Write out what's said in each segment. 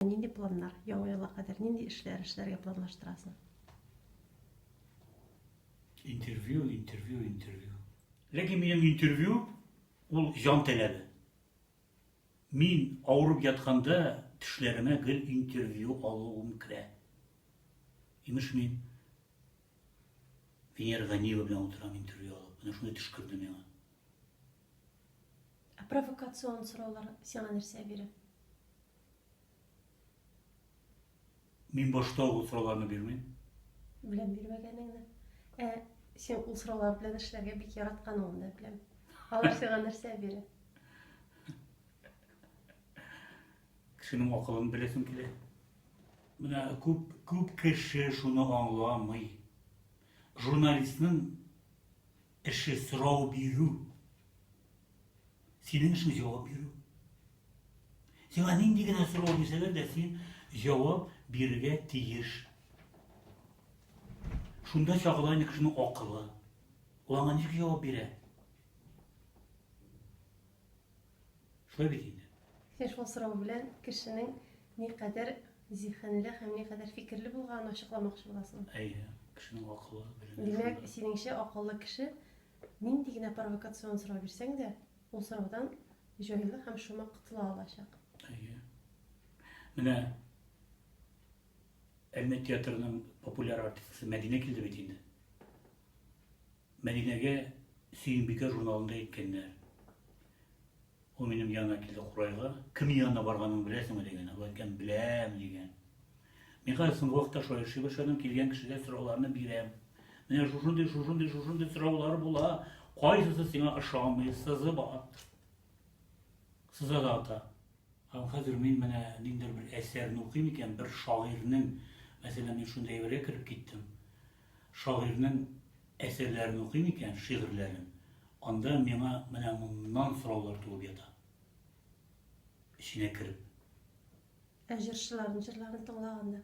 Нинди планнар? Яңа елга кадәр нинди эшләр эшләргә планлаштырасың? Интервью, интервью, интервью. Ләкин минем интервью ул җан таләбе. Мин авырып ятканда төшләремә гел интервью алуым керә. Имеш мин Венера Ганиева белән утырам интервью алып. Менә шуны төш керде миңа. Ә провокацион сораулар сиңа нәрсә бирә? Мин башта ук ул сорауларны бирмим. Беләм бирмәгәнеңне. Ә син ул сораулар белән эшләргә бик яратканыңны да беләм. Алар сиңа нәрсә бирә? Кешенең акылын беләсем килә. Менә күп күп кеше шуны аңламый. Журналистның Эше сорау бирү. Синең эшең җавап бирү. Сиңа нинди генә сорау бирсәләр дә син җавап бирергә тиеш. Шунда чагыла инде кешенең акылы. Ул аңа ничек җавап бирә? Шулай бит инде. Син шул сорау белән кешенең никадәр зиһенле һәм никадәр фикерле булганын ачыкламакчы буласың. Әйе, кешенең акылы, белеме шунда. Димәк, синеңчә, акыллы кеше нинди генә провокацион сорау бирсәң дә, ул сораудан җайлы һәм шома котыла алачак. Әйе. Менә Әлмәт театрының популяр артисткасы Мәдинә килде бит инде. Мәдинәгә Сөембикә журналында әйткәннәр. Ул минем янына килде курайга. Кем янына барганыңны беләсеңме дигән. Ул әйткән, беләм, дигән. Мин хәзер соңгы вакытта шулай эшли башладым, килгән кешегә сорауларны бирәм. Менә шушындый, шушындый, шушындый сораулар була. Кайсысы сиңа ошамый, сызыба. Сыза да ата. Һәм хәзер мин менә ниндидер бер әсәрне укыйм икән, бер шагыйрьнең, мәсәлән, мин шундый әйбергә кереп киттем. Шагыйрьнең әсәрләрен укыйм икән, шигырьләрен, анда миңа менә моннан сораулар туып ята. Эченә кереп. Ә җырчыларның җырларын тыңлаганда?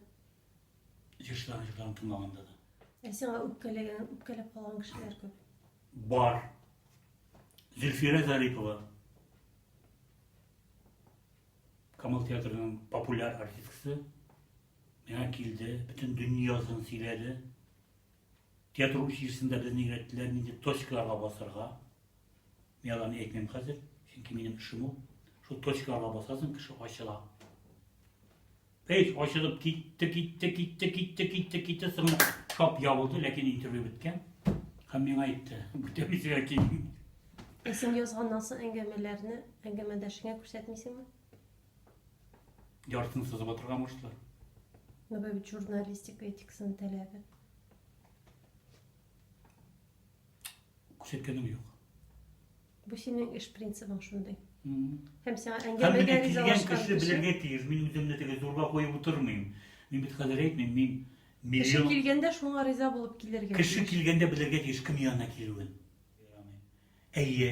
Җырчыларның җырларын тыңлаганда да. Ә сиңа үпкәләгән, үпкәләп калган кешеләр күп? Бар. Зөлфирә Зарипова. Камал театрының популяр артисткасы. Миңа килде, бөтен дөньясын сөйләде. Театр училищесында безне өйрәттеләр нинди точкаларга басырга. Мин аларны әйтмим хәзер, чөнки минем эшем ул. Шул точкаларга басасың, кеше ачыла. Эй, ачылып китте, китте, китте, китте, китте, китте, соңы шап ябылды, ләкин интервью беткән. Һәм миңа әйтте, бүтәмисегә килмим. Ә син язган насыл әңгәмәләрне әңгәмәдәшеңә күрсәтмисеңме? Яртыны сызып атырга мушты. Ну, бәбит журналистика этикасын тәләбе. Күрсәткәнем юк. Бу синең эш принцибың шундый. Һәм сиңа әңгәмәгә ризалашкан кеше белергә тиеш. Мин үземне теге зурга куеп утырмыйм. Мин бит хәзер әйтмим, мин Кеше килгәндә шуңа риза булып килергә. Кеше килгәндә белергә тиеш кем янына килүен. Әйе.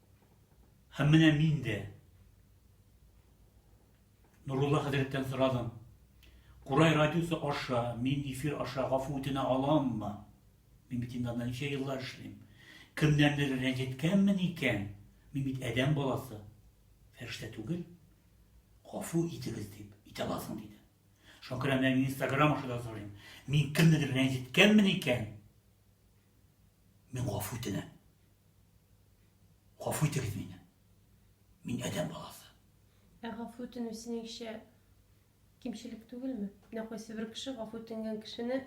Һәм менә мин дә Нурулла хәзрәттән сорадым. Курай радиосы аша, мин эфир аша гафу үтенә аламмы? Мин бит инде анда ничә еллар эшлим. Кемнәрдер рәнҗеткәнмен икән? Мин бит адәм баласы. Фәрештә түгел. Гафу итегез дип, итә аласың диде. Шуңа күрә менә мин Инстаграм аша да сорыйм. Мин кемнедер рәнҗеткәнмен икән? Мин гафу үтенәм. Гафу итегез мине. Мин адәм баласы. Ә гафу үтенү синеңчә кимчелек түгелме? Менә кайсы бер кеше гафу үтенгән кешене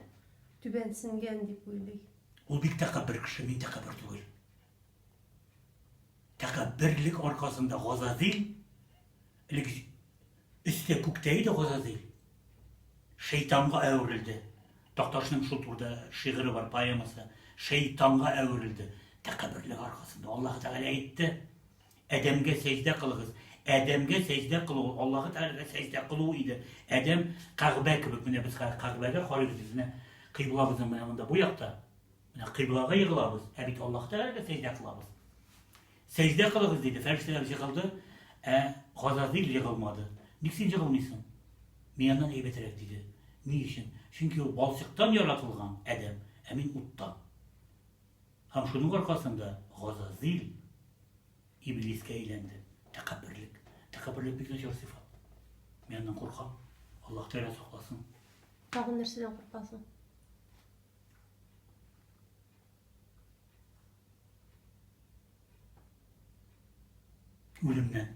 түбәнсенгән дип уйлый. Ул бик тәкәббер кеше, мин тәкәббер түгел. Тәкәбберлек аркасында Газазил, элек өстә күктә иде Газазил, шәйтанга әверелде. Такташның шул турда шигыре бар, поэмасы. Шәйтанга әверелде. Тәкәбберлек аркасында Аллаһ Тәгалә әйтте, Әдәмгә сәҗдә кылыгыз. Әдәмгә сәҗдә кылу, Аллаһ Тәгаләгә сәҗдә кылу иде. Әдәм Кәгъбә кебек, менә без Кәгъбәгә карыйбыз, безне кыйблабызның менә монда бу якта. Менә кыйблага егылабыз, ә бит Аллаһ Тәгаләгә сәҗдә кылабыз. Сәҗдә кылыгыз диде, фәрештәләр җыгылды, ә Газазил егылмады. Ник син җыгылмыйсың? Мин аннан әйбәтрәк диде. Ни өчен? Чөнки ул балчыктан яратылган адәм, ә мин уттан. Һәм шуның аркасында Газазил иблискә әйләнде. Тәкәбберлек. Тәкәбберлек бик начар сыйфат. Мин аннан куркам. Аллаһ Тәгалә сакласын. Тагын нәрсәдән куркасың? Үлемнән.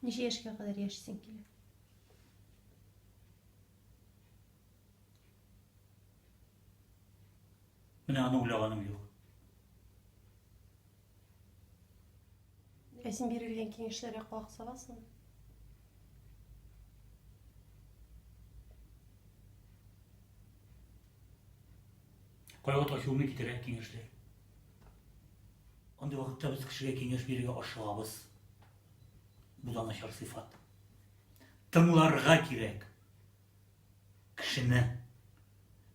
Ничә яшькә кадәр яшисең килә? Менә аны уйлаганым юк. Ә син бирелгән киңәшләргә колак саласың? Кайгы ташуны китерә киңәшләр. Андый вакытта без кешегә киңәш бирергә ашыгабыз. Бу да начар сыйфат. Тыңларга кирәк. Кешене.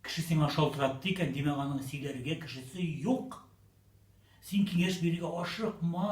Кеше сиңа шалтыратты икән, димәк, аның сөйләргә кешесе юк. Син киңәш бирергә ашыкма.